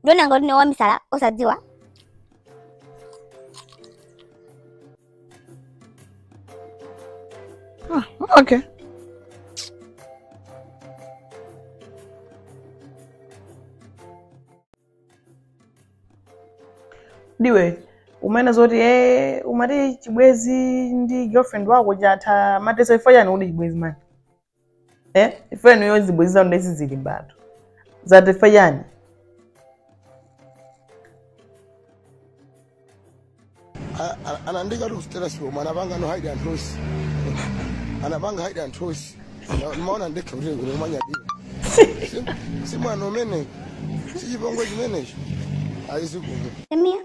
ndimaona ngati ndiwe wamisala osadziwa Ah, okay. ndiwe umene zoti umati chibwezi ndi girlfriend wako chatha chatheso chifukwa chani kuti chibwezi mani eh ife inu zazibwenzi zanu ndezi zilimbatu zathera chani A- a- anandiikatu status bomb anapanganso hide and host anapanga hide and host Na- ndimaona ndekha kuti kuno kumanyadira Si- si mwana umene sichipongwe chimenecho ayizikuno Come here.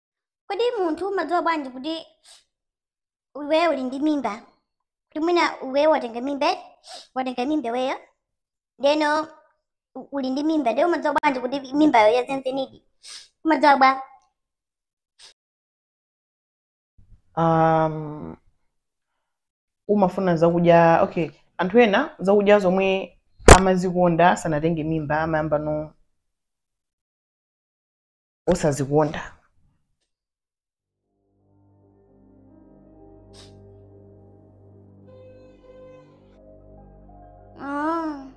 kodi munthu umadziwa bwanji kuti iweyo uli ndi mimba kuti mwina iweyo watenga mimba eti? watenga mimba iweyo ndeno u- uli ndi mimba ndiye umadziwa bwanji kuti mimbayo yazenzenidi umadziwa bwa um, umafuna zakudya okay anthu ena zakudya zomwe amazikonda sanatenge mimba amayambano osazikonda Ah.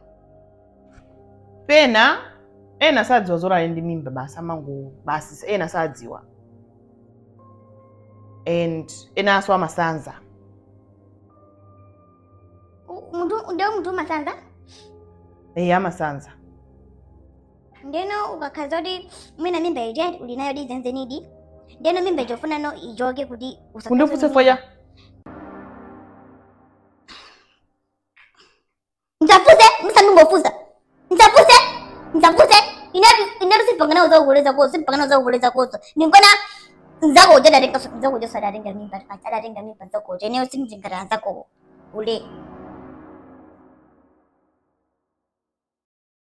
pena ena sadziwa zoti ali ndi mimba basi amango basi ena sadziwa and enanso amasanza nde munthu umasanza? eyi amasanza ndeno ukakhala kuti mwina mimba ija uli nayodi zenizenidi ndeno mimba ija ufunano ichoke kuti usakhaze kundifutse ndi foya mimba. msafuse msandungofusa msafuse msafuse inetu simpangana uzakukoleza koso simpangana uzakukoleza koso ndinkona nzako uja datenga nzako uja sadatenga mimba pacha adatenga mimba nzako uja ineyo simjingata nzako ule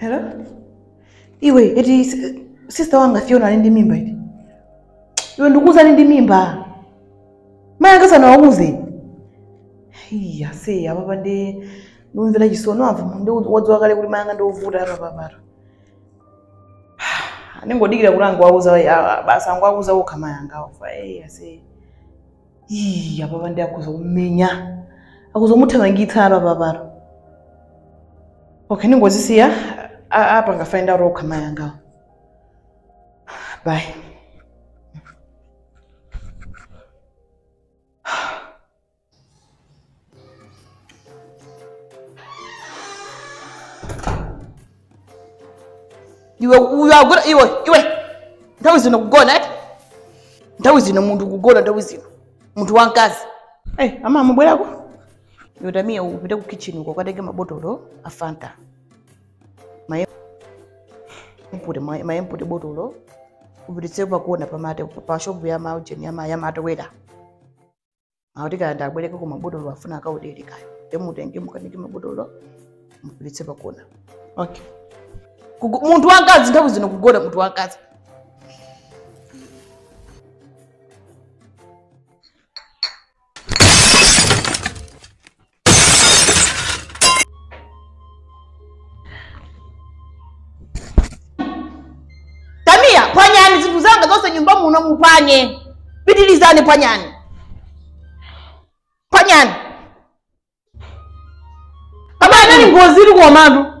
Hello? Iwe, eti s- sister wanga Fiona ali ndi mimba eti. Iwe ndikuuza ali ndi mimba. Mayi anga sanawauze. Iya, se apapa ndi ndikumvera chisoni apa ndiwodziwa kale kuti mayi anga ndi ovuta apapapatu. Ndingodikira kuti angowauza basi angomuuza okha mayi angawo. Iya, se. Ii, apapa ndiye akhoza kumumenya akhoza kumuthamangitsa apa papalo okay ndingozisiya apange find out okha mayi angawo bye iwe ukugona iwe iwe nthawi zino kugona eti nthawi zino munthu kugona nthawi zino munthu wamkazi hey, ama amabwerako iwe tamiya upite ku kitchen uko ukatenge mabotolo a fanta ma-empty ma-empty mabotolo upititse pakona pamate pa shopu ya maujeni ya ma- ya matewera akuti kaya ndiabwerekeko mabotolo afuna akaodere kaya nde mutenge mukanike mabotolo mupititse pakona okay Kugo- munthu wamkazi nthawi zino kugona munthu wamkazi tamiya pwanyani zinthu zanga zonse nyumba muno mupwanye pitilizani pwanyani pwanyani pamene ngozi ili kuwawa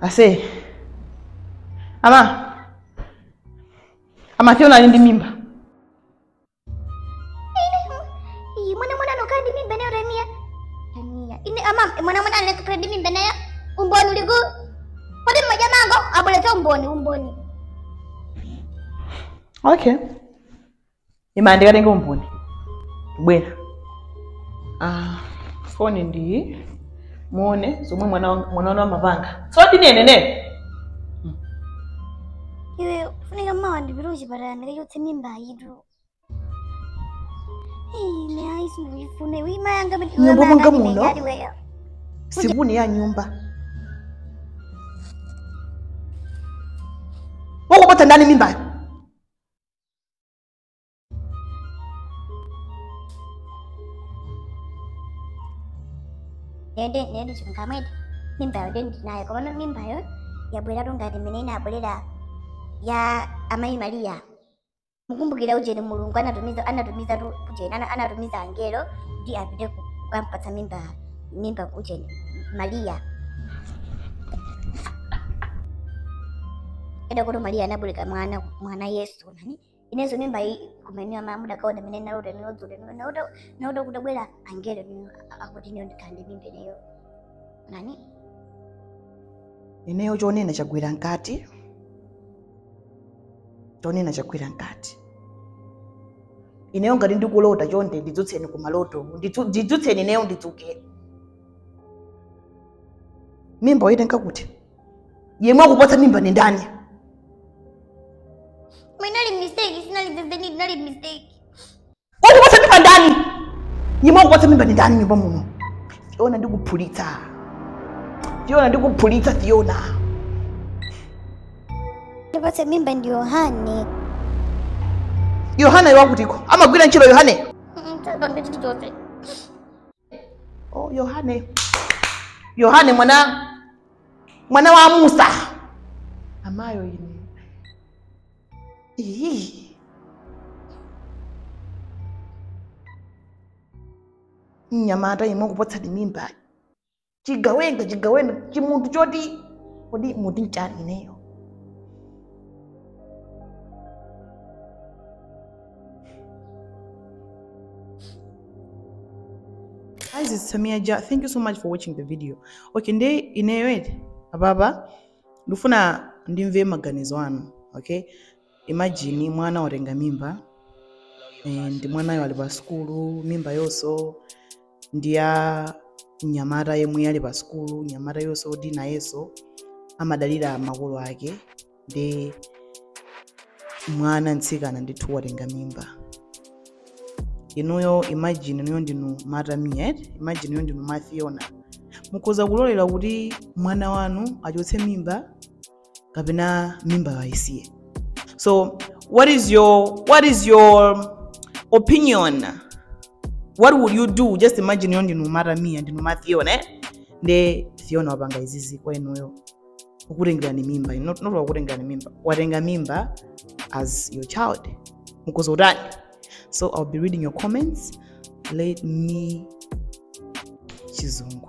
ase ama ama Fiona ali ndi mimba Iyi, mwana mwana anakhala ndi mimba nayo Rania. Rania. Ine ama mwana mwana anakhala ndi mimba nayo. Umboni uli kuti. Kodi mumangobwebweta umboni umboni. okay ima ndikatenge umboni bwera ah, foni ndi iyi muone zomwe mwana wanga- mwana wanu amapanga zoti nenene iwe ufunika mawa ndipite kuchipatala ndikachotse mimbayitu ine ayi sindikuyifuna iwe mayi anga M'nyumba mwanga muno? iweyo supuni ya nyumba wakupatsa ndani mimbayo nende nende chilungamo ndi mimbayo nde ndinayo komano mimbayo yabweratu ngati mmene inabwerera ya amayi mariya mukumbukira ujeni mulungu anatumiza anatumizatu ujeni ana- anatumiza angelo kuti apite ku- kukampatsa mimba mimba kuche Maria eda kuti Maria anabulika mwana mwana Yesu nani inezo mimba iyi kumeniwa mamuda kaona mene naruda niodzule nauda nauda kudabwera angelo nino akuti niyo ndikande mimba ineyo nani ineyo chonena chagwera mkati Fiona chagwira mkati ineyo ngati ndikulota chonde ndidzutseni ku maloto ndidzu- ndidzutseni ineyo ndidzuke mimba waitenga kuti yemwe wakupatsa mimba ni ndani Inali mistake, sinali zenizeni, inali mistake. Wakupatsa mimba ndani? Yemwe wakupatsa mimba ndi ndani m'nyumba muno? Fiona ndikuphulitsa. Fiona ndikuphulitsa Fiona. Wandipatsa mimba ndi Yohane. Yohane wakutiko. Amagwira ntchito Yohane. Mtaka ndi chilichonse. Oh, Yohane, Yohane mwana mwana wa Musa, amayo ine Ii. mnyamata yemwe wakupatsa mimba chigawenga chigawenga chimunthu choti kodi muti nchani ineyo Guys, it's Samia Ja. Thank you so much for watching the video. Okay, nde ineyo eti apapa ndifuna ndimve maganizo anu. Okay? Imagine mwana watenga mimba ndi mwanayo ali pa sukulu, mimbayonso ndi ya mnyamata yemwe ali pa sukulu, mnyamatayonso kuti nayenso amadalira makolo ake ndi mwana mtsikana ndithu watenga mimba. Inuyo imagine inuyo ndinu matamia eti, imagine inuyo ndinu mafiona. Mukhoza kulolera kuti mwana wanu achotse mimba kapena mimbayo ayisiye so what is your what is your opinion what would you do just imagine inuyo ndinu matamia ndinu mafiona eh? nde Fiona wapanga izizi kwa inuyo wakutengerani mimba inu, not, not wakutengerani mimba watenga mimba as your child mukhoza kutani so i'll be reading your comments let me chizungu